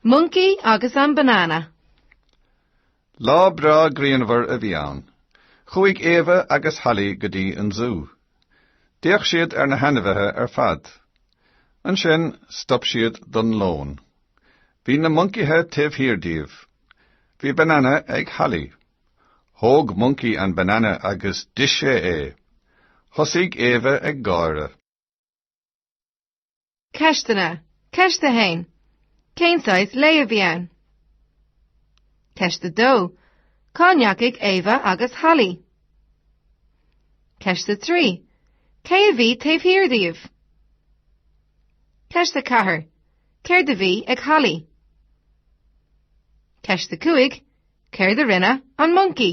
Moncaí agus an banana. Lá breá grianmhar a bhí ann. Chuaigh Éabha agus Hallaí go dtí an zú. D'fhéach siad ar na hainmhithe ar fad. Ansin stop siad don lón. Bhí na moncaithe taobh thiar díobh. Bhí banana ag Hallaí. Thóg moncaí an banana agus d'ith sé é. Thosaigh Éabha ag gáire. Ceisteanna, Ceist 1. Cén saghas lae a bhí ann? Ceist 2. Cá ndeachaigh Éabha agus Hallaí? Ceist 3. Cé a bhí taobh thiar díobh? Ceist 4. Céard a bhí ag Hallaí? Ceist 5. Céard a rinne an moncaí?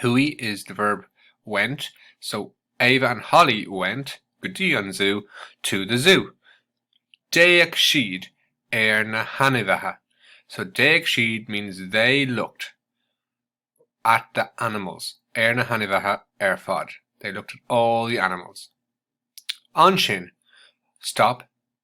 Chuaigh is the verb went, so Éabha and Holly went go dtí an zú to the zoo. D'fhéach siad ar na hainmhithe, so d'fhéach siad means they looked at the animals. ar na hainmhithe ar fad, they looked at all the animals. Ansin, stop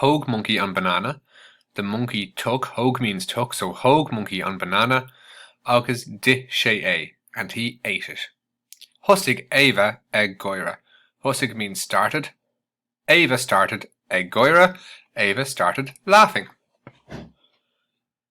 Thóg Monkey an banana, the monkey took, thóg means took, so thóg Monkey an banana agus d'ith sé é, and he ate it. Thosaigh Ava ag gáire, thosaigh means started, Ava started ag gáire, Ava started laughing.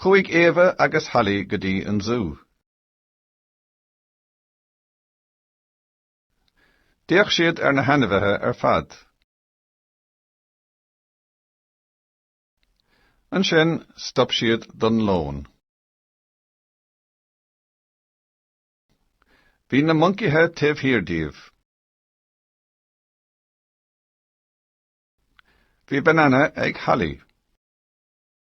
Chuaigh Éabha agus Holly go dtí an zú. D'fhéach siad ar na hainmhithe ar fad. Ansin stop siad don lón. Bhí na moncaithe taobh thiar díobh. Bhí banana ag Holly.